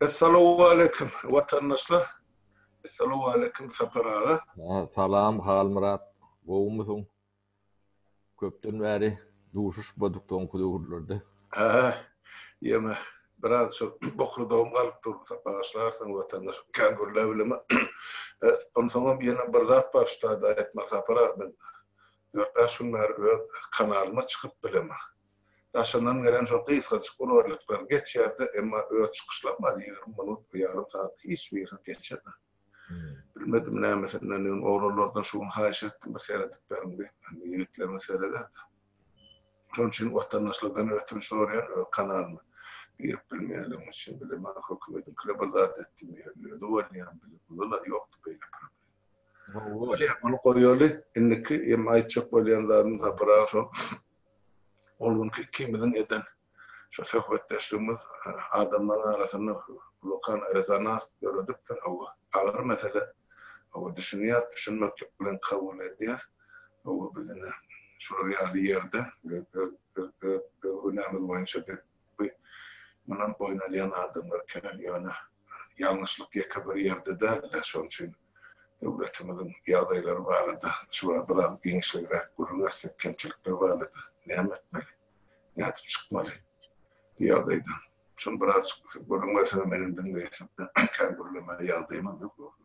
Essalowaleýkim watandaşlar. Essalowaleýkim Sapar aga. Salam Halmyrat, gowumysyň? Köpden bäri duşuşmadyk soňky döwürlerde. Hä, ýeme, biraz şol bokurdagym galyp dur, sapaşlarsyň watandaş, kän gürläp bilemok. Onsoňam ýene bir zat bar şu taýda aýtmaly Sapar aga, men dört-bäş gün bäri öz kanalyma çykyp bilemok. Daşyndan gelen şol gysgajyk ulgurlyklar geçýärdi, emma öz çykyşlarym bar, ýigrimi minut, bir ýarym sagat hiç birini geçirmän. Bilmedim nämesinden öň oglanlardan şu gün haýyş etdim, bir seredip beriň diýip, indi ýigitlerimiz sereder-de. Şonuň üçin watandaşlardan ötünç soraýan, öz kanalyma girip bilmeýänligim üçin, bir-de maňa hökümediňkiler bir zat etdim diýýän, özi bolýan, bile-buzul-a ýokdy beýle problem. Bolýar, muny goýaly, indiki, emma aýtjak bolýan zadym, Sapar aga, şol Ol günki ikimiziň eden şu söhbetdeşligimiz adamlaryň arasynda wulkan rezonans döredipdir. Hawa, agyr mesele. Hawa, düşünýäs, düşünmeklik bilen kabul edýäs. Hawa, biz ine, şular ýaly ýerde, öz günämiz boýunça bi mundan boýun alýan adamlar kän. Ýöne ýalňyşlyk ýeke bir ýerde däl-de, şonuň üçin döwletimiziň ýagdaýlary barada şu wagt biraz giňişligiräk gürrüň etsek, kemçilikler barada näme etmeli, nädip çykmaly bu ýagdaýdan? Şuny birazjyk bize gürrüň berseňiz, menem diňleýäsim, kän gürlemäge ýagdaýymam ýok dogry.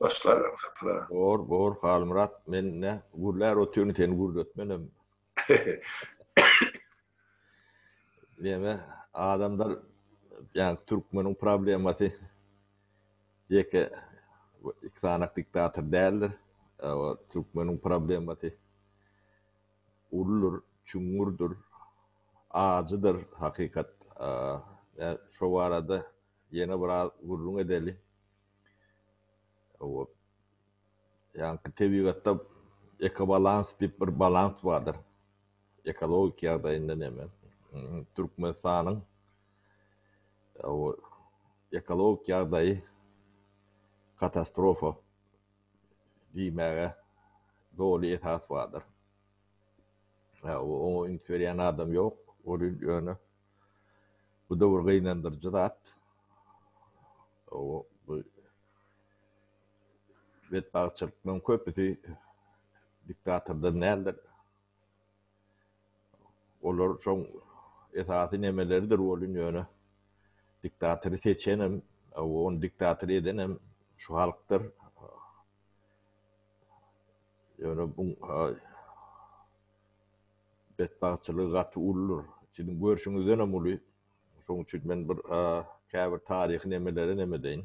Başlagam sapra. Bor, bor, Halmyrat, men ine gürlär otyryn, seni gürletmenem. Neme adamlar yani Türkmeniň problemasy ýeke iki sanak diktator däldir. Ewa Türkmeniň problemasy uludyr, çuňňurdyr, ajydyr hakykat. Eee şo barada ýene biraz gürrüň edeli. Ýa-da tebigatda ekobalans diýip bir balans bardyr. Ekologik ýagdaýynda näme? Türkmenistanyň ekologik ýagdaýy katastrofa diýmäge doly esas bardyr. Oňa üns berýän adam ýok, ýöne Bu döwür gynandyryjy zat. Betbagtçylyklaryň köpüsi diktatordan däldir. Olar şoň esasy nemeleridir bolun ýöne diktatory seçenem, ony diktator edenem şu halkdyr. Ýöne bu Betbagtçylygy gaty uludyr. Siziň görşüňizdenem uly. Şoň üçin men bir käbir taryhy nemeleri neme edeýin.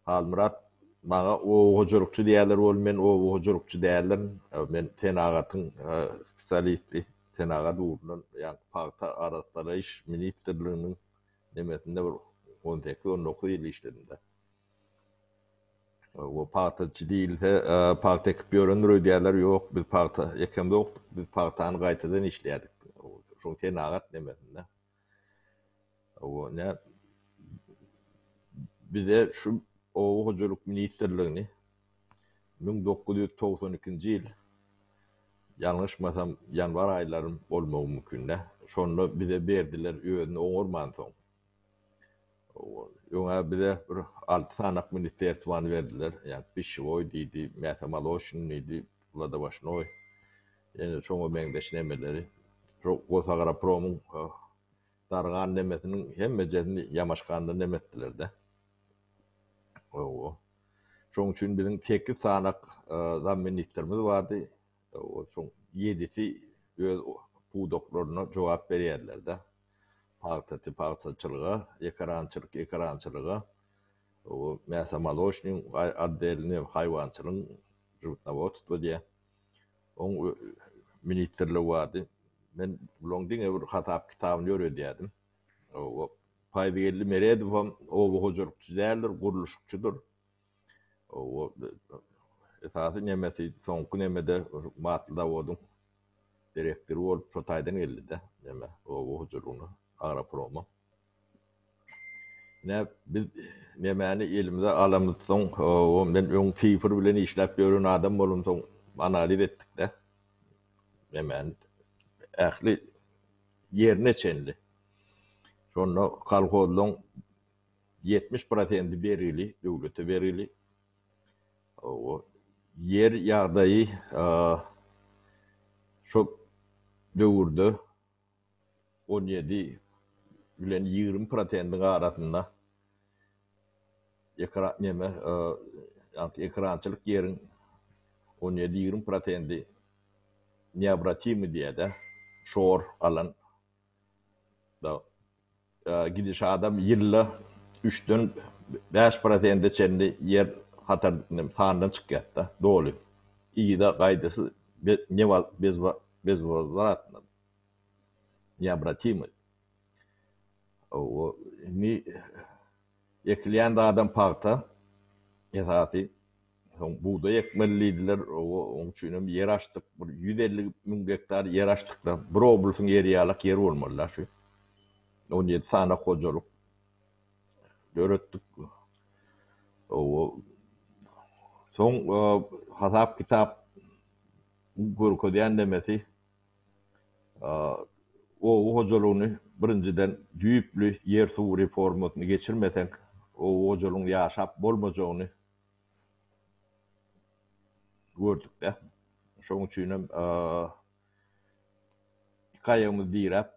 Halmyrat maňa oba hojalykçy diýerler bolup, men oba hojalykçy däldirin. Men senagatyň spesialisti. Senagat ugrundan, ýagny pagta arassalaýyş ministrliginiň nemesinde bir on sekiz, on dokuz ýyl işledim-de. Oba pagtaçy diýilse, pagta ekip ýörendir öýdýärler. Ýok, biz pagta ekemzokdyk. Biz pagtany gaýtadan işleýärdik. Şol senagat nemesinde. Oba nä bize şu Oba hojalyk ministrligini müň dokuz ýüz togsan ikinji ýyl, ýalňyşmasam, ýanwar aýlary bolmagy mümkin-dä, şonda bize berdiler, özüni oňarmansoň. Öňe bize bir alty sanak ministerstwany berdiler. Ýa pişewoý diýdi, mähä maloşin diýdi, wladowaşnoý. Ýene şoňa meňzeş nemeleri. Şu Gosagropromyň dargan nemesiniň hemmejesini Ýamaşganda neme etdiler-de. Hawa. Şoň üçin biziň sekiz sanak zamministrimiz bardy. Şoň ýedisi öz pudaklaryna jogap berýärler-de. Pagtaçy pagtaçylyga, ekerançylyk ekerançylyga, mäsomolocnyň oddelini haýwançylygyň žywtnowodstwo diýýär. Oň ministrligi bardy. Men bularyň diňe bir hasap kitabyny ýöredýärdim. Paýzgeldi Meredowam oba hojalykçy däldir, gurluşykçydyr. Esasy nemesi soňky nemede matly zawodyň direktory bolup şo taýdan geldi-de neme oba hojalygyna Agroproma. Ine biz nemäni elimize alamyzsoň men öň sifr bilen işläp ýören adam bolamsoň analiz etdik-de nemäni ähli ýerine çenli. Şonda kolhozlaň ýetmiş prosenti bergili, döwlete bergili. Owo, ýer ýagdaýy şo döwürde on ýedi bilen ýigrimi prosentiň arasynda ekra neme, ekrançylyk ýeriň on ýedi-ýigrimi prosenti neobratimy diýýär-de, şor galan. Gidiş adam ýylda üçden bäş prosente çenli ýer hatar sandan çykýardy, doly. Yza gaýdysyz bezwozwratno, neobratimoý. Indi ekilýän zadam pagta esasy. Soň bugdaý ekmeli diýdiler. Oň üçinem ýer açdyk. Bir ýüz elli müň gektar ýer açdyk-da. Bir oblusyň ýeri ýalak ýer bolmaly-da şu. On ýedi sany hojalyk döretdik. Oba Soň hasap-kitap görkezýän nemesi oba hojalygyny birinjiden düýpli ýer-suw reformasyny geçirmeseň, oba hojalygyň ýaşap bolmajagyny gördük-de. Şonuň üçin hem iki aýagymyz diräp,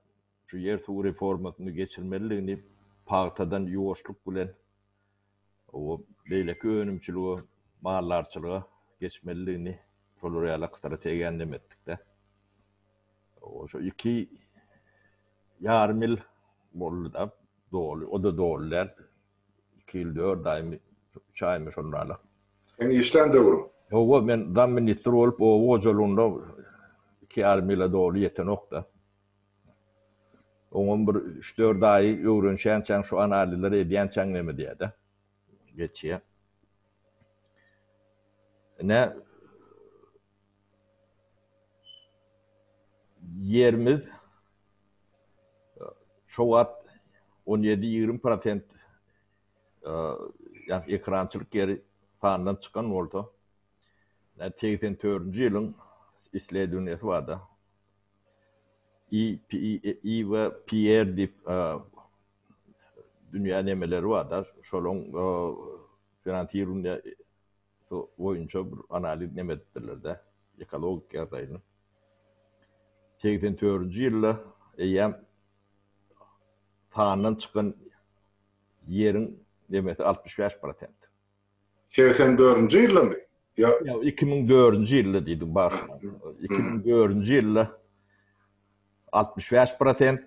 şu ýer-suw reformasyny geçirmelidigini, pagtadan ýuwaşlyk bilen beýleki önümçilige, maldarçylyga geçmelidigini, şolar ýaly strategiýany nem etdik-de. Şu iki ýarym ýyl boldy-da, doly, o-da doly däl. Iki ýyl dört aýmy, üç aýmy şondalar. Seň işlän döwrüň? Hawa, men zamministr bolup oba hojalygynda iki ýarym ýyla doly ýetenok-da. Oňam bir üç-dört aýy öwrenişýänçäň, şu analizleri edýänçäň neme diýýä-dä, geçýär. Ine, Ýerimiz şo wagt on ýedi-ýigrimi prosent ýa-da ekerançylyk ýeri sandan çykan bolsa, segsen dördünji ýylyň isledowniýasy barda, IVPR diýip dünýä nemeleri barda, şolaň finansirowaniýa Su boýunça bir analiz neme edipdirlerde ekologik ýagdaýyny. Segsen törünji ýylda eýýäm sandan çykan ýeriň nemesi altmyş bäş prosent. Segsen dördünji ýyldamy? Ýa iki müň dördünji ýylda diýdim bagşyma. Iki müň dördünji ýylda altmyş bäş prosent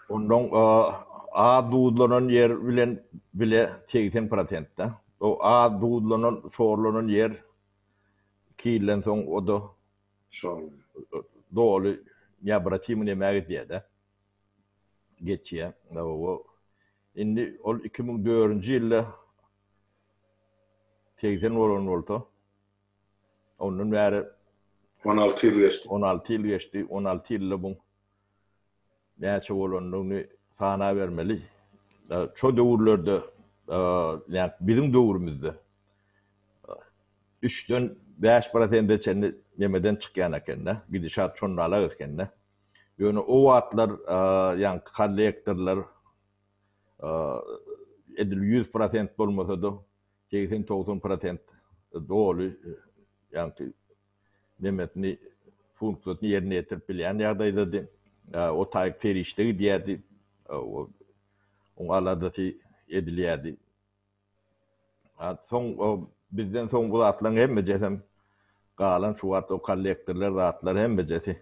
Ondan az duzlanan ýer bilen bile segsen prosentde. O az duzlanan, şorlanan ýer iki ýyldan soň o-da doly neobratimy näme gidýär-de, geçýär. Hawa, indi ol iki müň dördünji ýylda segsen bolan bolsa, ondan bäri on alty ýyl geçdi. On alty ýyl geçdi, on alty ýylda bu näçe bolandygyny sanabermeli. Şo döwürlerde, näme, biziň döwrümizde üçden bäş prosente çenli nemeden çykýan eken-dä, gidişat şondalak eken-dä. Ýöne o wagtlar, ýaňky kollektorlar edil ýüz prosent bolmasa-da, segsen-togsan prosent doly, ýaňky nemetini, funksiýasyny ýerine ýetirip bilýän ýagdaýdady. O taýy perişde gidýärdi. Oň aladasy edilýärdi. Soň bizden soň bu zatlaryň hemmejesem galan şu wagt o kollektorlar zatlar hemmejesi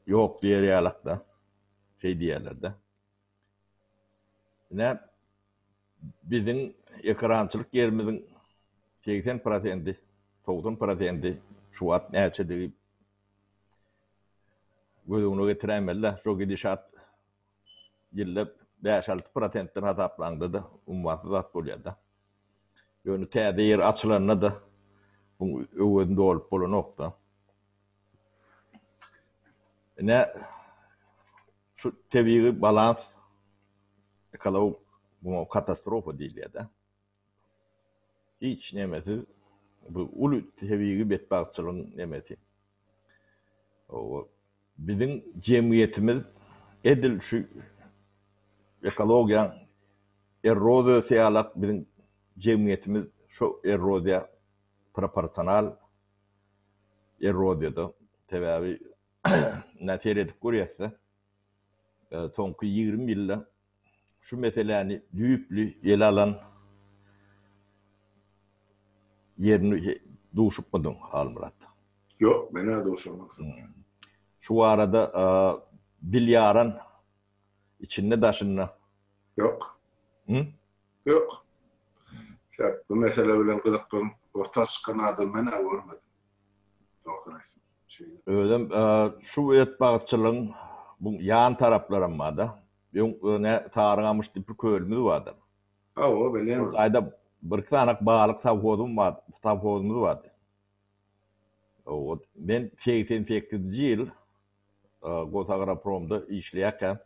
ýok diýer ýalak-da. Şeý diýerler-de. Ine, biziň ekerançylyk ýerimiziň segsen prosenti, togsan prosenti şu wagt näçedigi göz öňüne getiräýmeli-dä. Şo gidişat ýylda bäş-alty prosentden hasaplaňda-da ummasyz zat bolýar-da. Ýöne täze ýer açylanda-da, muň öwezini dolup bolanok-da. Ine, şu tebigy balans, ekologik muňa katastrofa diýilýär-de. Hiç nemesiz bu uly tebigy betbagtçylygyň nemesi. Oba, biziň jemgyýetimiz edil şu ekologiýanyň erroziýasy ýaly-ak biziň jemgyýetimiz şo erroziýa proporsional Erodiýada, sebäbi ine seredip görýäs-de, soňky ýigrimi ýylda şu meseläni düýpli ele alan ýerini duşupmydyň, Halmyrat? Ýok, men-ä duşamokdym. Şu barada bilýaran içinde-daşynda? Ýok. Hü? Ýok. Şäht bu mesele bilen gyzyklanyp orta çykan adam men-ä görmedim. Dogrusyny aýtsam, şeýle. Özem şu öýütbagçylygyň bu ýan taraplaram bar-da. Öň nä Sarygamyş diýip bir kölümiz bardy. Hawa, bilýän. Şol taýda bir-iki sany balyk sowhozym bar, sowhozymyz bardy. Owal, men segsen sekizinji ýyl. Gozagropromda işleýärkäm,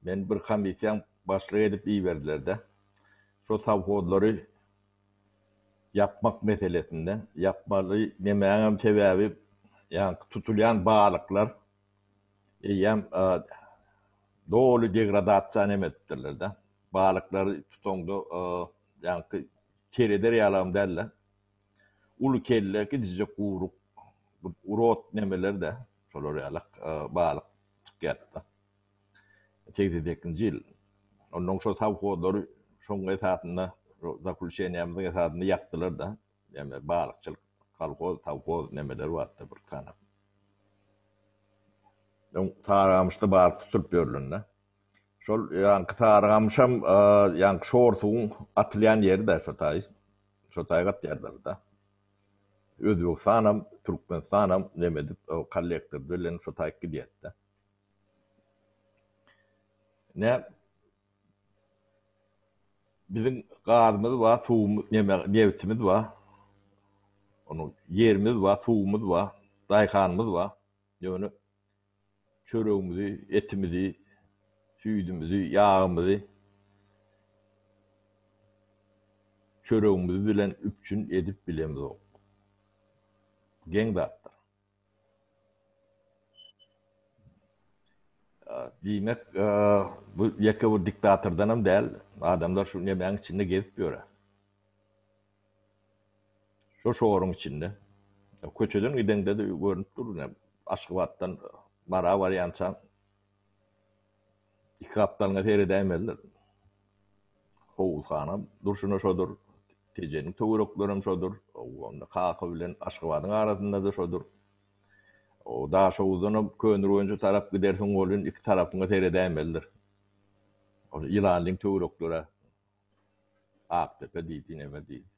meni bir komissiýaň başlygy edip iberdiler-de, şo sowhozlary ýapmak meselesinde, ýapmaly demäňem sebäbi, ýaňky tutulýan balyklar eýýäm doly degradasiýany hem edipdirler-de, balyklary tutaňda ýaňky sereder ýalam däldi. Uly kelle, gidijek guýruk, rot nemeler-de, şolar ýaly balyk çykýardy-da. Segsen sekizinji ýyl. Onnoň şo sowhozlary şonuň esasynda, zakluşeniýamyzyň esasynda ýapdylar-da. Näme, balykçylyk, kolhoz, sowhoz nemeleri bardy-da bir sany. Soň Saramyşda balyk tutulyp ýörleni-de. Şol ýaňky Sarygamyşam ýaňky şor suwuň atylýan ýeri-dä şo taý. Şo taýy gatýarlar-da. Özbegistanam, Türkmenistanam neme edip, kollektor bilen şo taýy gidýärdi-de. Ine, biziň gazymyz bar, suwumyz, neme, nebtimiz bar. Onuň ýerimiz bar, suwumyz bar, daýhanymyz bar. Ýöne. Çöregimizi, etimizi, süýdümizi, ýagymyzy çöregimiz bilen üpjün edip bilemizok. Geň zatdyr. Diýmek, bu ýeke bir diktatordanam däl, adamlar şu nemäň içinde gezip ýöre. Şo şoruň içinde, köçeden gideňde-de görnüp dur, ine, Aşgabatdan Mara barýançaň iki gapdalyňa seredäýmelidir. Howuzhana durşuna şodur, Tejeniň töwerekleri hem şodur, onda Kaka bilen Aşgabadyň arasynda-da şodur. O Daşhowuzdan hem Köneürgenje tarap gidersiň welin, iki tarapyňa seredäýmelidir. Ýylanlyň töwerekleri-ä. Akdepe diýdi, neme diýdi.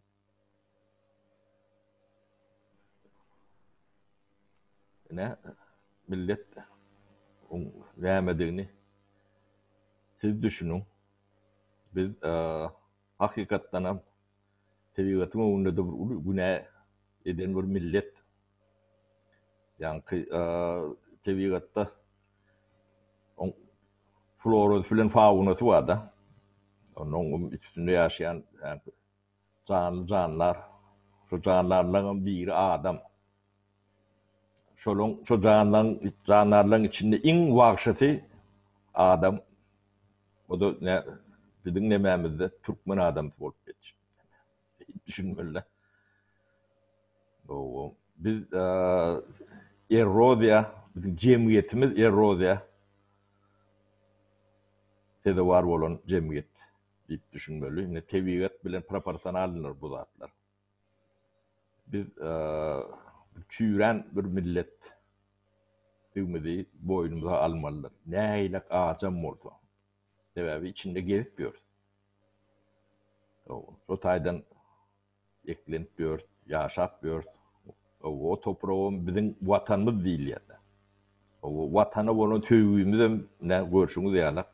Ine, millet oň nämedigini siz düşüniň. Biz hakykatdanam tebigatyň öňünde-de bir uly günä eden bir millet. Ýaňky tebigatda oň florasy bilen faunasy bar-da. Onuň üstünde ýaşaýan janly janlar, şu janlarlaryň biri adam. Şolaryň, şu janlaryň, jandarlaryň içinde iň wagşysy adam. O-da biziň nemämizde türkmen adamsy bolup ýetişipdir. düşünmelidir. Gowy. Biz erroziýa, biziň jemgyýetimiz erroziýa sezewar bolan jemgyýet diýip düşünmeli. Indi tebigat bilen proporsionalnydyr bu zatlar. Biz çüýrän bir millet diýmeli boýnumyza almalydyr. Nähili ajam bolsa. Sebäbi içinde gezip ýörüs. Şo taýdan eklenip ýörüs, ýaşap ýörüs. O topragam biziň Watanymyz diýilýär. Watana bolan söýgimizem ine görşüňiz ýalak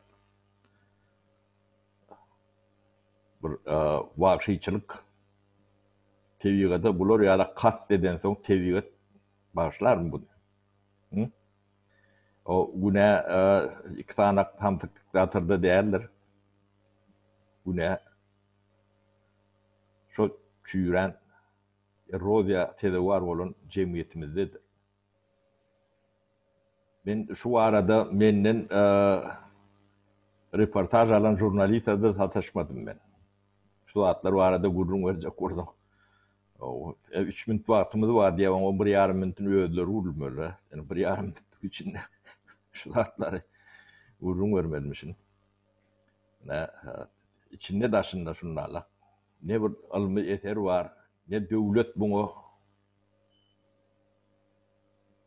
bir wagşyçylyk tebigada bular ýalak kast edensoň tebigat bagyşlarmy buny? O günä iki sany samsyk diktatorda däldir. Günä şo çüýrän erroziýa sezewar bolan jemgyýetimizdedir. Men şu barada menden reportaž alan žurnalista-da sataşmadym men. Şu zatlar barada gürrüň berjek bolsaň. Üç minut wagtymyz bar diýýär, oňa bir ýarym minutyn özleri gürlemeli. Ýöne bir ýarym minutlyk içinde şu zatlary gürrüň bermelimişin. Nä, içinde-daşynda şundala. Ne bir ylmy eser bar, ne döwlet muňa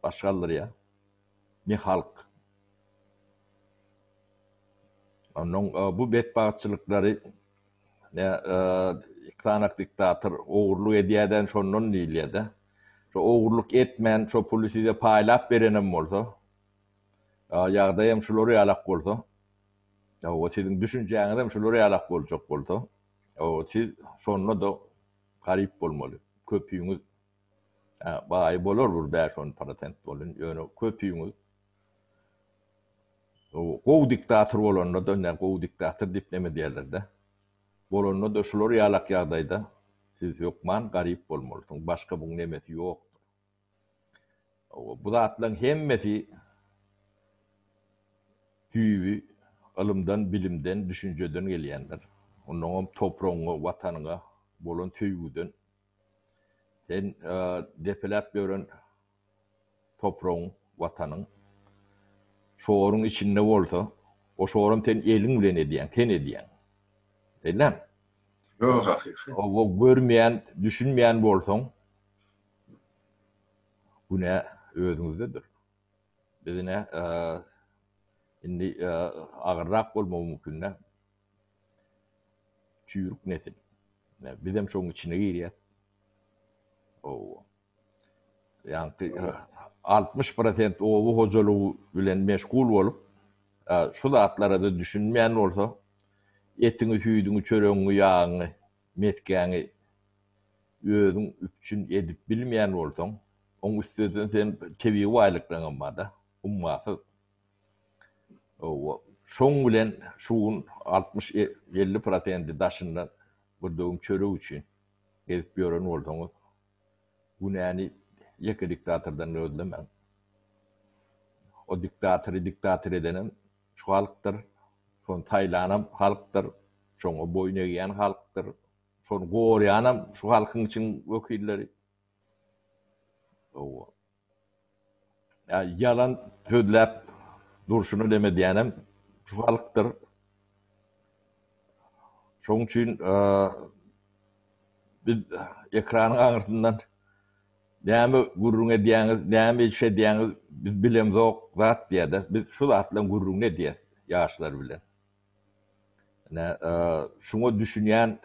baş galdyrýar. Ne halk. Onnoň bu betbagtçylyklary ne iki sany diktator ogurlyk edýäden şondan diýilýäde. Şo ogurlyk etmän şo puly size paýlap berenem bolsa, ýagdaýam şular ýalak bolsa, hawa siziň düşünjäňizem şular ýalak boljak bolsa, hawa siz şonda-da garyp bolmaly. Köpüňiz. Hä, baý bolar bir bäş-on prosent bolun, ýöne köpüňiz gowy diktator bolanda-da, ine, gowy diktator diýip neme diýerler-dä, bolanda-da şular ýalak ýagdaýda siz hökman garyp bolmalysyňyz, başga buň nemesi ýokdur. Hawa, bu zatlaryň hemmesi düýbi ylymdan, bilimden, düşünjeden gelýändir. Onnoňam topragyňa, Watanyňa bolan söýgüden. Sen depeläp ýören topragyň, Watanyň şoruň içinde bolsa, o şoram sen eliň bilen edýäň, sen edýäň. Sellaň? Ýok, hakyky. Hawa, görmeýän, düşünmeýän bolsaň, günä özüňizdedir. Biz ine, indi agyrrak bolmagy mümkin-dä. Çüýrük nesil. Bizem şoň içine girýäs. Oba. Ýaňky 60 prosent oba hojalygy bilen meşgul bolup, şu zatlara-da düşünmän bolsa, etiňi, süýdüňi, çöregiňi, ýagyňy, mesgäňi özüň üpjün edip bilmeýän bolsaň, oň üstesine seň tebigy baýlyklaryň hem bar-da, ummasyz. Şoň bilen şu gün altmyş elli prosenti daşyndan bir döwüm çörek üçin gezip ýören bolsaňyz, günäni ýeke diktatordan gözlemäň. O diktatory diktator edenem şu halkdyr, şony saýlanam halkdyr, şoňa boýun egýän halkdyr, şony goraýanam şu halkyň içiň wekilleri. Ýalan sözläp durşuna näme edýänem şu halkdyr. Şoň üçin biz ekranyň aňyrsyndan näme gürrüň edýäňiz, näme iş edýäňiz biz bilemzok zat diýäde. Biz şu zatlaryň gürrüňini edýäs ýaşlar bilen. Ine, şuňa düşünýän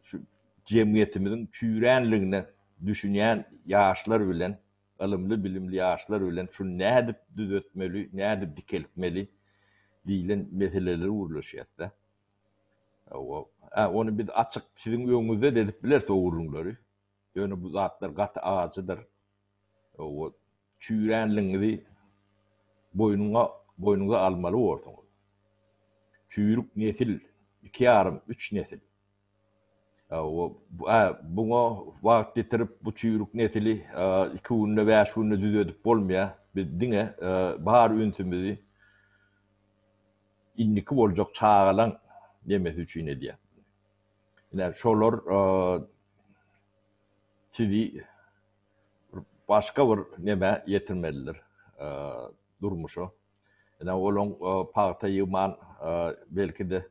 şu jemgyýetimiziň çüýränligine düşünýän ýaşlar bilen, ylymly-bilimli ýaşlar bilen şuny nädip düzetmeli, nädip dikeltmeli diýlen meseleleri gürleşýäs-de. Hawa, ony biz açyk siziň öňüňizde-de edip bileris o gürrüňleri. Ýöne bu zatlar gaty ajydyr. Owod, çüýränligiňizi boýnuňa, boýnuňyza almaly borsuňyz. Çüýrük nesil, iki ýarym, üç nesil. Owod, bu-ä, buňa wagt ýetirip, bu çüýrük nesili iki günde, bäş günde düzedip bolmaýar. Biz diňe bar ünsümizi indiki boljak çagalaň nemesi üçin edýäs. Ine şolar sizi başga bir nämä ýetirmelidir, durmuşa. Ine olaň pagta ýygman, belki-de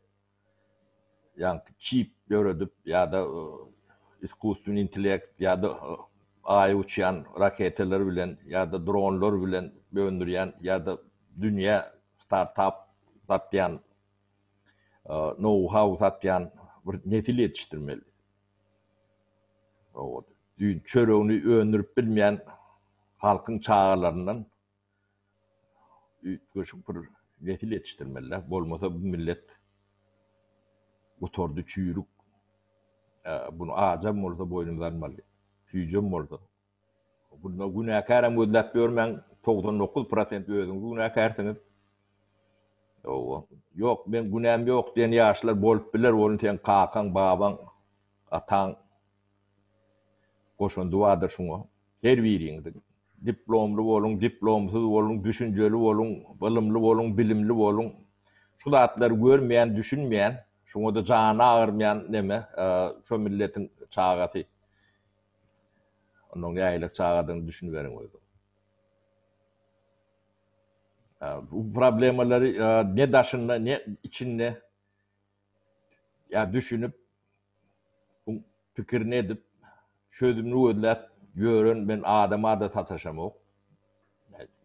ýaňky çip döredip ýa-da iskusstweniý intelekt ýa-da Aýa uçýan raketalar bilen ýa-da dronlar bilen öndürýän ýa-da dünýä startap satýan nou-hau satýan bir nesil ýetişdirmelidiris. Düýn çöregini öndürip bilmeýän halkyň çagalaryndan üýtgeşik bir nesil ýetişdirmeli-dä. Bolmasa bu millet gutardy, çüýrük. Bunu ajam bolsa boýnumyza almaly, süýjem bolsa. Bunda günäkäräm gözläp ýörmäň, togsan dokuz prosent özüňiz günäkärsiňiz. Hawa, ýok, meň günäm ýok diýen ýaşlar bolup biler, ony seň kakaň, babaň, ataň goşandy bardyr şuňa. Her biriňiziň. Diplomly boluň, diplomsyz boluň, düşünjeli boluň, ylymly boluň, bilimli boluň. Şu zatlary görmeýän, düşünmeýän, şuňa-da jany agyrmaýan neme, şu milletiň çagasy. Onda nägilelik çagadygyny düşüniberiň özüň. Bu problemalary ne daşynda, ne içinde ýa düşünip, bu pikirini edip, çözümini gözläp ýören men adama-da sataşamok.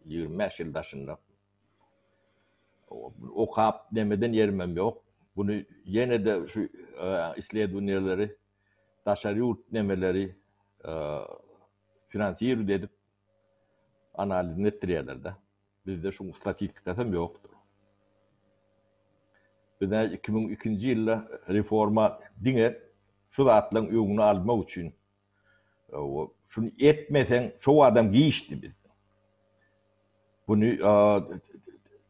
25 ýyl daşynda. Okap, nemeden ýerimem ýok. Bunu ýene-de şu isledowniýeleri daşary ýurt nemeleri finansirowat edip analizyny etdirýärler-de. Bizde şuň statistikasam ýokdur. Bizde iki müň ikinji ýylda reforma diňe şu zatlaryň öňüni almak üçin şuny etmeseň şo adam giçdi bizde. Buny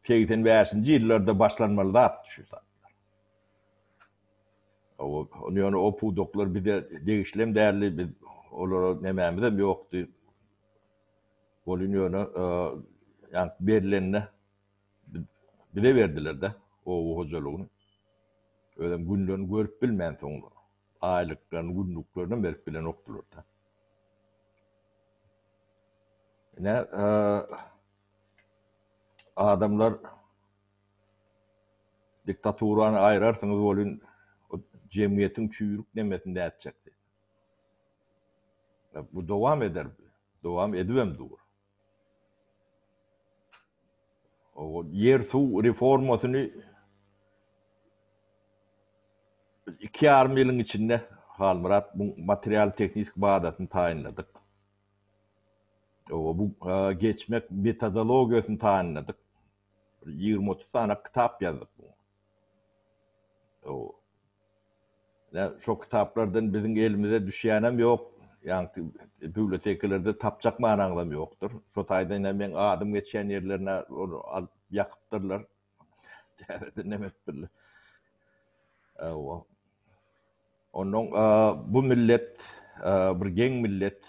segsen bäşinji ýyllarda başlanmaly zatdy şu zatlar. Ýöne o pudaklar bize degişli hem däldi, biz olara nämämiz hem ýokdy. Welin ýöne ýa berlenine bize berdiler-de oba hojalygyny. Özem günlerini görüp bilmän soň aýlyklaryny, günlüklerini hem berip bilenokdylar-da. Ine adamlar Diktaturany aýrarsyňyz welin, o jemgyýetiň çüýrük nemesinde ätjekdi. Bu dowam eder, dowam edibem dur. Ýer-suw reformasyny biz iki ýarym ýylyň içinde, Halmyrat, bu material-tehniki bazasyny taýynladyk. Bu geçmek metodologiýasyny taýynladyk. Bir ýigrimi-otuz sany kitap ýazdyk. Hawa. Ýa şo kitaplardan biziň elimize düşýänem ýok. Ýaňky bibliotekalerde tapjak manaňyzam ýokdur. Şo taýdan hem meň adym geçýän ýerlerine ony alyp ýakypdyrlar. Täzeden näme etdirler. Hawa. Onnoň bu millet bir geň millet.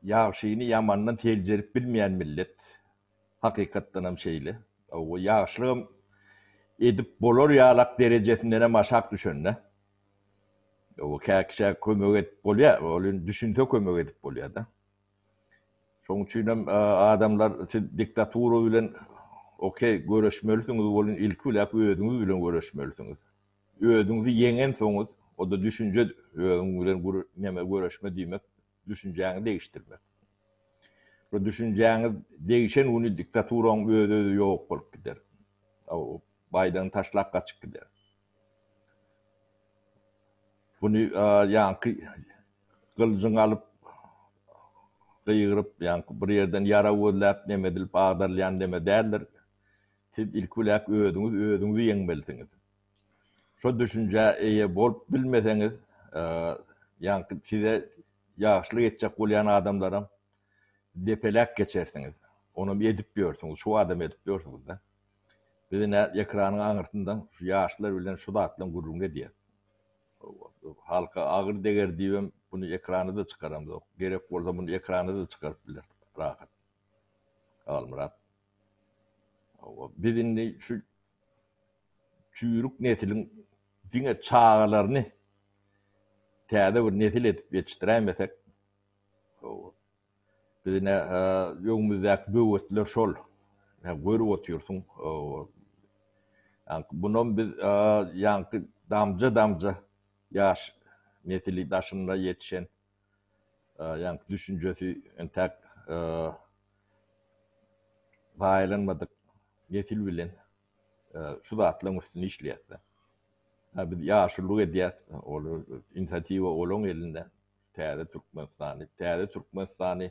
Ýagşyny ýamandan seljerip bilmeýän millet. Hakykatdanam şeýle. Hawa, ýagşylygam edip bolar ýalak derejesindenem aşak düşende. Hawa, kä-kişä kömek edip bolýar, ol indi düşünse kömek edip bolýar-da. Şonuň üçinem adamlar siz diktatura bilen, okey, göreşmelisiňiz, ol ilki biläp özüňiz bilen göreşmelisiňiz. Özüňizi ýeňensoňyz, o-da düşünje, özüň bilen neme göreşme diýmek, düşünjäňi degişdirmek. Şo düşünjäňiz degişen güni diktaturaň öz-özi ýok bolup gider. Baýdagyny taşlap gaçyp gider. Güni ýaňky gyljyňy alyp, gygyryp, ýaňky bir ýerden ýarag gözläp, neme edilip agdarylýan neme däldir. Siz ilki biläk özüňiz özüňizi ýeňmelisiňiz. Şo düşünjä eýe bolup bilmeseňiz, ýaňky size ýagşylyk etjek bolýan adamlaram depeläp geçersiňiz. Onam edip ýörsüňiz, şu adam edip ýörsüňiz-de. Biz ine ekranyň aňyrsyndan şu ýaşlar bilen şu zatlaryň gürrüňini edýäs. Halka agyr deger diýibem muny ekrana-da çykaramzok. Gerek bolsa muny ekrana-da çykaryp bileris rahat. Halmyrat. Hawa, biz indi şu çüýrük nesliň diňe çagalaryny täze bir nesil edip ýetişdiräýmesek, hawa, biz ine öňümizdäki böwetler şol. Ine görüp otyrsyň, hawa, ýaňky munam biz ýaňky damja-damja ýaş nesli daşynda ýetişen. ýaňky düşünjesi entäk zaýalanmadyk nesil bilen şu zatlaryň üstünde işleýäs-de. Biz ýaşulyk edýäs, ol inisiatiwa olaň elinde. Täze Türkmenistany, täze Türkmenistany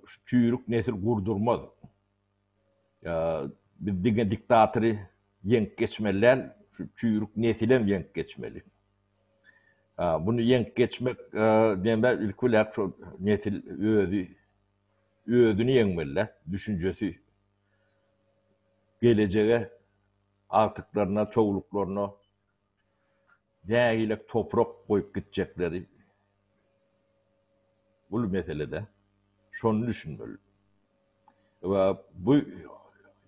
şu çüýrük nesil gurdurmaz. Biz diňe diktatory ýeňip geçmeli däl, şu çüýrük nesilem ýeňip geçmeli. Muny ýeňip geçmek diýende ilki bilen şol nesil özi özüni ýeňmeli däl, düşünjesi gelejege agtyklaryna, çowluklaryna Nägilek toprak goýup gitjekleri uly meselede. Şony düşünmeli. We bu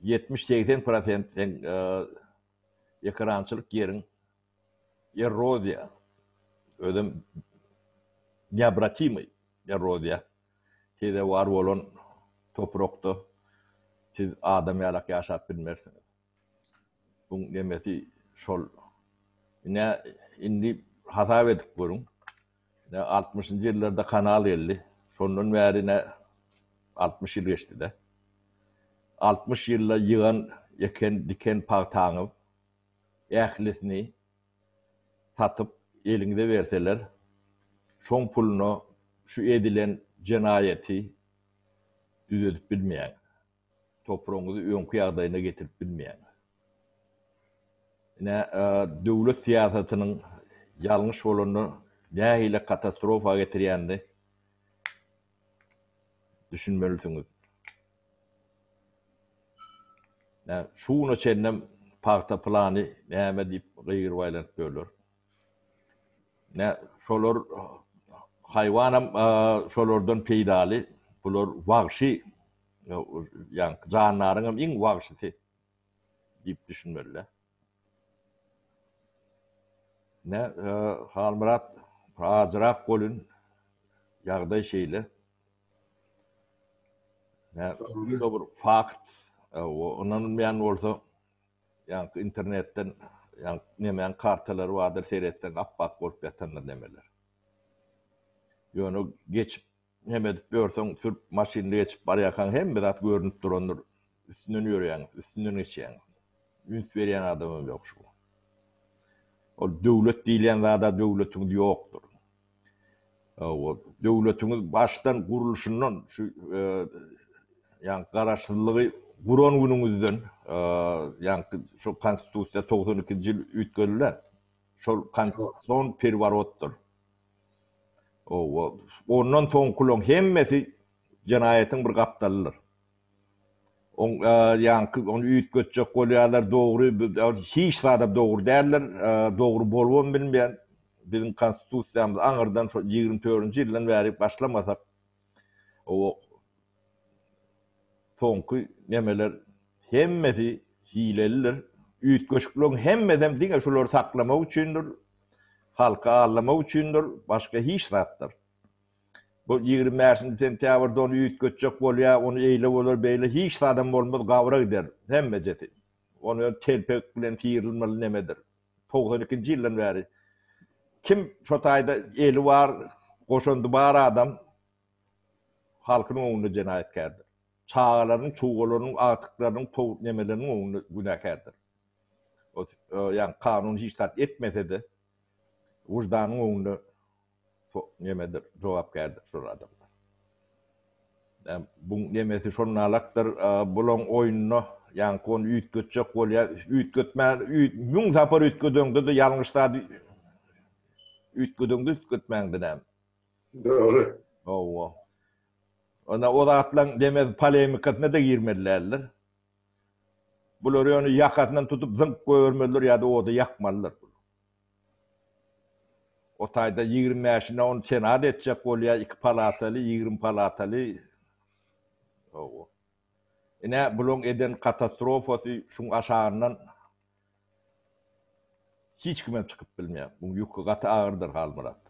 ýetmiş, segsen prosent seň ekerançylyk ýeriň erroziýa, özem neobratimiý erroziýa, sezewar bolan toprakda siz adam ýalak ýaşap bilmersiňiz. Bu nemesi şol ine indi hasap edip görüň. Ne 60-njy ýyllarda kanal geldi. Şondan bäri ne 60 ýyl geçdi-de. 60 ýylda ýygan, eken, diken pagtaňyz ählisini satyp eliňize berseler, şoň puluna şu edilen jenaýaty düzedip bilmeýäňiz. Topragyňyzy öňki ýagdaýyna getirip bilmeýäňiz. Ine, döwlet syýasatynyň ýalňyş bolanda nähili katastrofa getirýänini düşünmelisiňiz. Ine, şu güne çenlem pagta plany näme diýip gygyryp aýlanyp ýörler. Ine, şolar haýwanam şolardan peýdaly. Bular wagşy. Ýa jandaryňam iň wagşysy diýip düşünmeli-le. Ne, Halmyrat, ajyrak bolun, ýagdaý şeýle. Ne, bu bir fakt, ynanylmaýan bolsa, ýa-da internetden, ýa-da nemäň kartalary bardyr, seretseň ap-ak bolup ýatandyr nemeler. Ýöne geçip Neme edip ýörseň, sürüp, maşynda geçip barýarkaň hemme zat görnüp durandyr. Üstünden ýörýäň, üstünden geçýäň. Üns berýän adamam ýok şu. Ol döwlet diýilýän zada döwletiňiz ýokdur. Hawa, döwletiňiz başdan gurluşyndan şu ýaňky garaşsyzlygy guran günüňizden, ýaňky şu Konstitusiýa togsan ikinji ýyl üýtgediler. Şol konstitusion perworotdyr. Oba, ondan soňkulaň hemmesi jenaýatyň bir gapdalydyr. Oň ýaňky ony üýtgetjek bolýarlar, dogry, hiç zada dogry däldir, dogry bolubam bilmeýär. Biziň konstitusiýamyz aňyrdan şo ýigrimi dördünji ýyldan bäri başlamasak, Owok soňky nemeler hemmesi hilelidir. Üýtgeşikligiň hemmesem diňe şulary saklamak üçindir, halky aldamak üçindir, başga hiç zatdyr. Bu ýigrimi bäşinji sentýabrda ony üýtgetjek bolýa, ony eýle bolar, beýle hiç zadam bolmaz, gabara gider hemmejesi. Ony telpek bilen syýrylmaly nemedir. togsan ikinji ýyldan bäri kim şo taýda eli bar, goşandy bar adam halkynyň öňünde jenaýatkärdir. Çagalarynyň, çuwgalarynyň, agtyklarynyň, tog nemeleriniň öňünde günäkärdir. Ýagny kanun hiç zat etmese-de, wyždanyň öňünde Şo nemedir, jogapkärdir şol adamlar. Näm, buň nemesi şol nalakdyr, bulaň oýnuna ýaňky ony üýtgetjek bolýa, üýtgetmän, üýt, müň sapar üýtgedeňde-de ýalňyş zat üýtgedeňde üýtgetmäňde näm. Dogry. Hawa. Onda o zatlaň demez polemikasyna-da girmeli däldir. Bular ýöne ýakasyndan tutup zyňk goýbermelidir ýa-da oda ýakmalydyr. O taýda ýigrimi bäşine ony senat etjek bolýar, iki palataly, ýigrimi palataly. Hawa. Ine, bularyň eden katastrofasy şuň aşagyndan hiç kimem çykyp bilmeýär. Buň ýüki gaty agyrdyr, Halmyrat.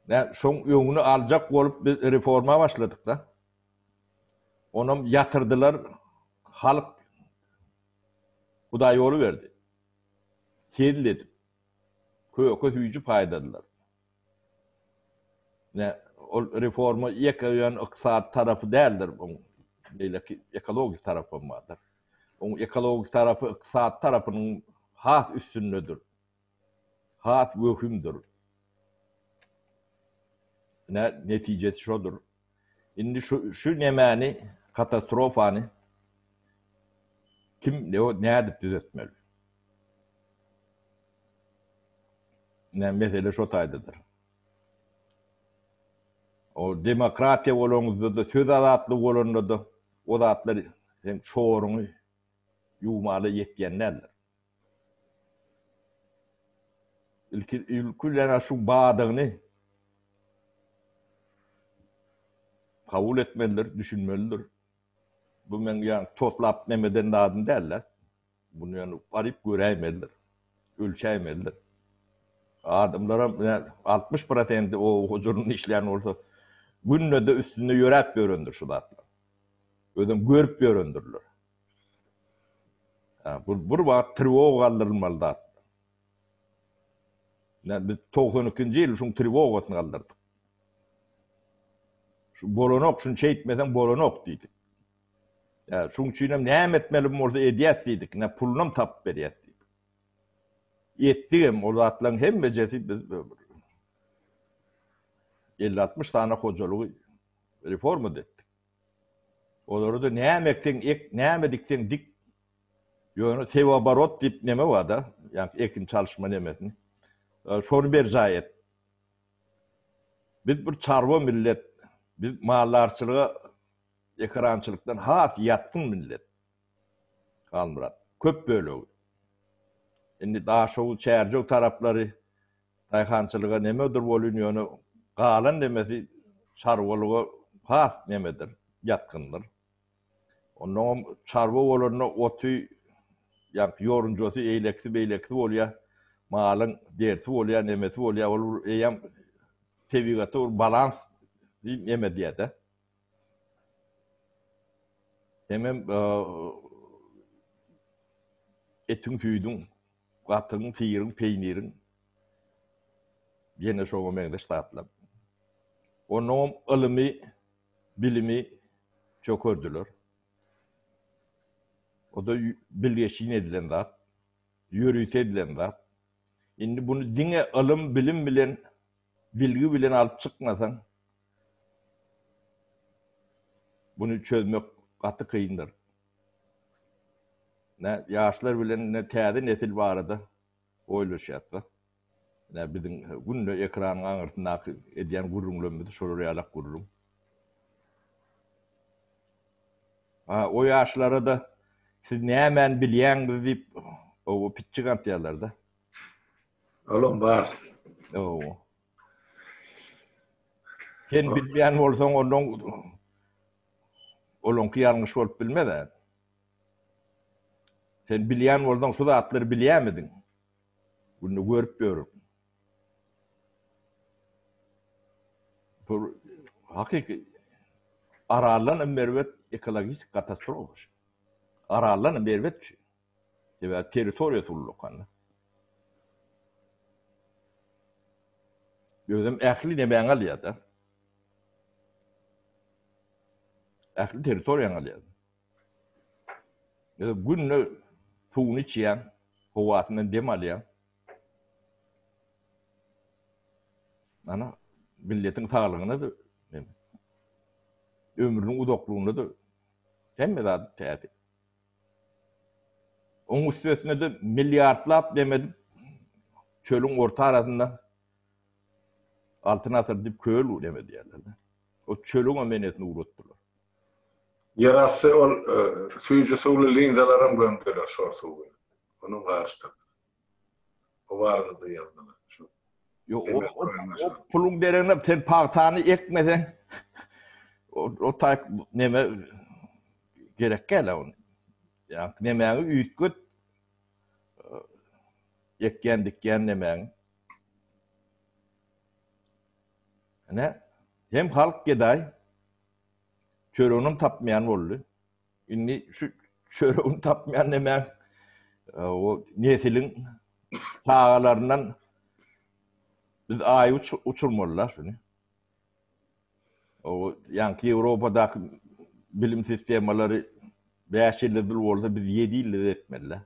Nä, şoň öňüni aljak bolup biz reforma başladyk-da. Onam ýatyrdylar, halk Hudaýýoly berdi. Hezil edip, köke süýji paýladylar. Ine, ol reforma ýeke ýöne ykdysady tarapy däldir oň, beýleki ekologik tarapy hem bardyr. Oň ekologik tarapy ykdysady tarapynyň has üstündedir. has wehimdir. Ine, netijesi şodur. Indi şu, şu nemäni, katastrofany kim, nädip düzetmeli? Ine, mesele şo taýdadyr. O demokratiýa bolanyňyzda-da, söz azatlygy bolanda-da, o zatlar hem çoruňy ýuwmaly ýetýän däldir. Ilki ilkilene şu badyny kabul etmelidir, düşünmelidir. Bu men ýa totlap nem eden zadym däl-de. Bunu ýöne baryp göräýmelidir. Ölçäýmelidir. Adamlaram ýa altmyş prosendi o hujurynda işleýän bolsa, günde-de üstünde ýöräp ýörendir şu zatlar. Özem görüp ýörendirler. Bu bir wagt triwoga galdyrylmaly zat. Näme biz togsan ikinji ýyl şuň triwogasyny galdyrdyk. Şu bolanok, şuny şeýtmeseň bolanok diýdik. Ýa şuň üçinem näme etmeli bolsa edýäs diýdik, ine pulunam tapyp berýäs diýdik. Etdigem ol zatlaryň hemmejesi biz elli-altmyş sany hojalygy reforma-da etdik. Olarda näme ekseň ek, näme dikseň dik. Ýöne sewoborot diýip neme bar-da, ýa-ni ekin çalyşma nemesini. Şony berjaý et. Biz bir çarwa millet. Biz maldarçylyga, ekerançylykdan has ýatgyn millet. Halmyrat, köp bölegi. Indi Daşoguz, Çärjew taraplary Daýhançylyga nemedir bolýn ýöne galan nemesi çarwalyga has nemedir, ýatgyndyr. Onnoňam çarwa bolanda oty ýaňky ýorunjasy eýlekisi beýlekisi bolýar. Malyň derisi bolýar, nemesi bolýar. Ol bir eýýäm tebigata bir balans diýip neme diýär-de. Hemem etiň-süýdüň Gatygyň, syryň, peýniriň, ýene şoňa meňzeş zatlar. Onnoňam ylymy, bilimi çökerdiler. O-da bilgeşin edilen zat, ýörite edilen zat. Indi buny diňe ylym, bilim bilen, bilgi bilen alyp çykmasaň, buny çözmek gaty kyndyr. Ine, ýaşlar bilen ine täze nesil barada oýlaşýas-da. Ine, biziň günde ekranyň aňyrsyndaky edýän gürrüňlerimiz şolar ýalak gürrüň. A, o ýaşlara-da siz nämäni bilýäňiz diýip, oba pitjik atýarlar-da. Olam bar. Oba. Sen bilmeýän bolsaň, onda olaňky ýalňyş bolup bilmez-ä. Sen bilýän bolsaň, şu zatlary bilýärmidiň? Günde görüp ýörün. Bu hakyky Araldan iň erbet ekologik katastrofa şu. Araldan iň erbet şu. Sebäbi territoriýasy ullakan. Özem ähli nemäňi alýar-da. Ähli territoriýaňy alýar. Özem günde suwuny içýäň, howasyndan dem alýaň. Ana, milletiň saglygyna-da, ömrüniň uzaklygyna-da hemme zat täsir. Oň üstesine-de milliardlap dem edip çölüň orta arasynda Altyn asyr diýip köl dem edýärler. O çölüňem enesini ugratdylar. Ýerasty ol süýji suwly linzalaram gömdüler şor suw bilen. Olam garyşdyrdylar. O barada-da ýazdylar. Şu Ýok, o, Emel o, Guraýyň o aşagy. puluň deregine sen pagtany ekmeseň, o, o taýk neme gerek gel-ä ony. Ýa nemäňi üýtget, e, ekýän, dikýän nemäňi. Ine, hem halk gedaý, çöreginem tapmaýan boldy. Indi şu çöregini tapmaýan näme? O nesiliň çagalaryndan biz aý uç uçurmalylar şuny. O ýanki Ýewropadaky bilim sistemalary 5 ýylda bir bolsa biz 7 ýylda etmeliler.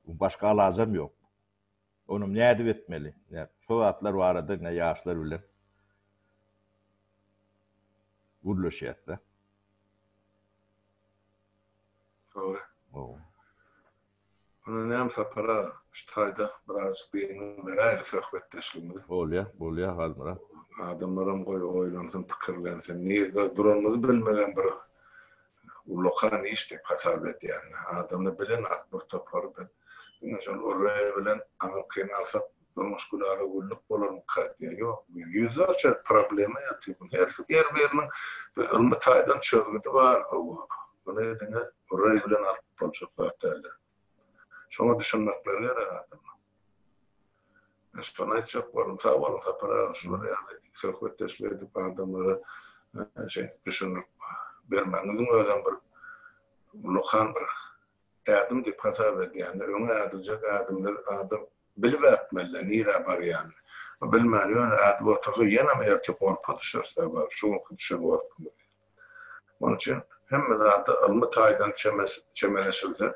Bu başga alajam ýok. Ony nädip etmeli? Şo zatlar barada ine ýaşlar bilen gürleşýäs-de. Dogry. Gowy. Ony näme tapara şu taýda biraz gygynyň beräýeli söhbetdeşligimizi. Bolýa, bolýa Halmyrat. Adamlaram goý oýlansyn, pikirlensin. Nirde duranymyzy bilmegem bir Ullakan iş diýip hasap edýän. Adamda bilen at bir topar biz. Diňe şol Orwell bilen aňyrkyny alsak durmuş gülara güllük bolarmyka diýýän. Ýok bu ýüzlerçe problema ýatyr bu hersi her biriniň bir ylmy taýdan çözgüdi bar bu. Muny diňe Orwell bilen alyp boljak zat däldir. Şoňa düşünmekleri gerek adamlar. Men şony aýtjak boldum. Sag boluň Sapar aga şular ýaly söhbetdeşlik edip adamlara şeýdip düşündirip bermegiňiziň özem bir ulakan bir ädim diýip hasap edýän. Öňe ädiljek ädimler adam bilip ätmeli nirä barýanyny. Bilmän ýöne ädip otursa ýenem ertir gorpa düşer Sapar şu günki düşen gorpumyz ýaly. Munuň üçin hemme zada ylmy taýdan çemeleşilse,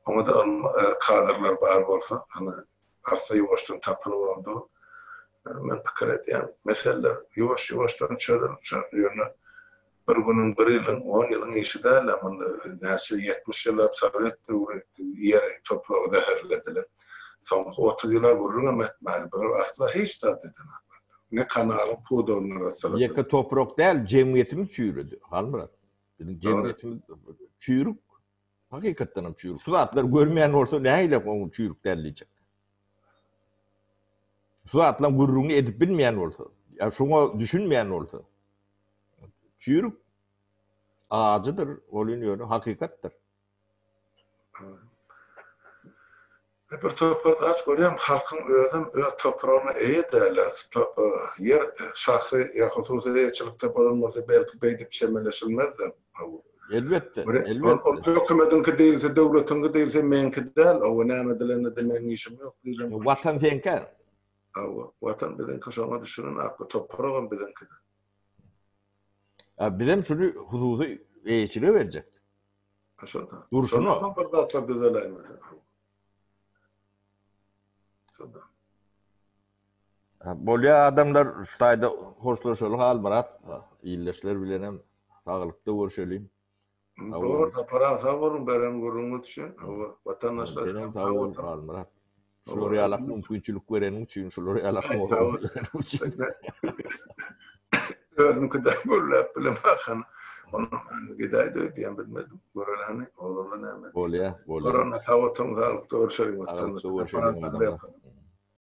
oňa-da ylmy kadrlar bar bolsa, hany, arssa-ýuwaşdan tapylyp onda, men pikir edýän, meseleler ýuwaş-ýuwaşdan çözülip çykar. Ýöne bir günüň, bir ýylyň, on ýylyň işi däl-ä, muny näçe ýetmiş ýyllap sowet döwri ýeri, topragy zäherlediler. Soňky otuz ýyla gürrüňem etmäli, bular asla hiç zat eden adamlar däl. Ne kanalyň pudagyny arassaladylary. Ýeke toprak däl, jemgyýetimiz çüýredi, Halmyrat. Biziň jemgyýetimiz çüýrük. Hakykatdanam çüýrük. Şu zatlary görmeýän bolsa, nähili onuň çüýrük däl diýjek. Şu zatlaryň gürrüňini edip bilmeýän bolsa, ýa şuňa düşünmeýän bolsa, çüýrük. Ajydyr, ol ýöne hakykatdyr. Bir topar zat görýärin, halkyň özem öz topragyna eýe dälä, ýer şahsy ýa hususy eýeçilikde bolan bolsa belki beýdip çemeleşilmezdi. Elbetde, elbetde. Ol hökümediňki diýilse, döwletiňki diýilse meňki däl, hawa näme edilende de meň işim ýok diýilen bolsa. Watan seňkä. Hawa, watan biziňki şoňa düşünen akly topragam biziňki. Bizem şuny hususy eýeçilige berjekdik. Dursun o. Bir zatlar düzeläýme. Bolýa adamlar şu taýda hoşlaşaly Halmyrat. Illeşler bilen hem saglykda görşeliň. Dogry, tapara sag boluň, beren gürrüňiz üçin. Watandaşlar. Sag boluň Halmyrat. Şular ýaly mümkinçilik bereniň üçin, şular ýaly hormat bereniň üçin. Özüňki de gürläp bilen bakan. Onu gidäý de öýdýän bilmedim. Göreleni, oglana näme? Bolýa, bolýa. Görene sag oturyň, saglyk dogry şeýle. Sag oturyň, görüşelim.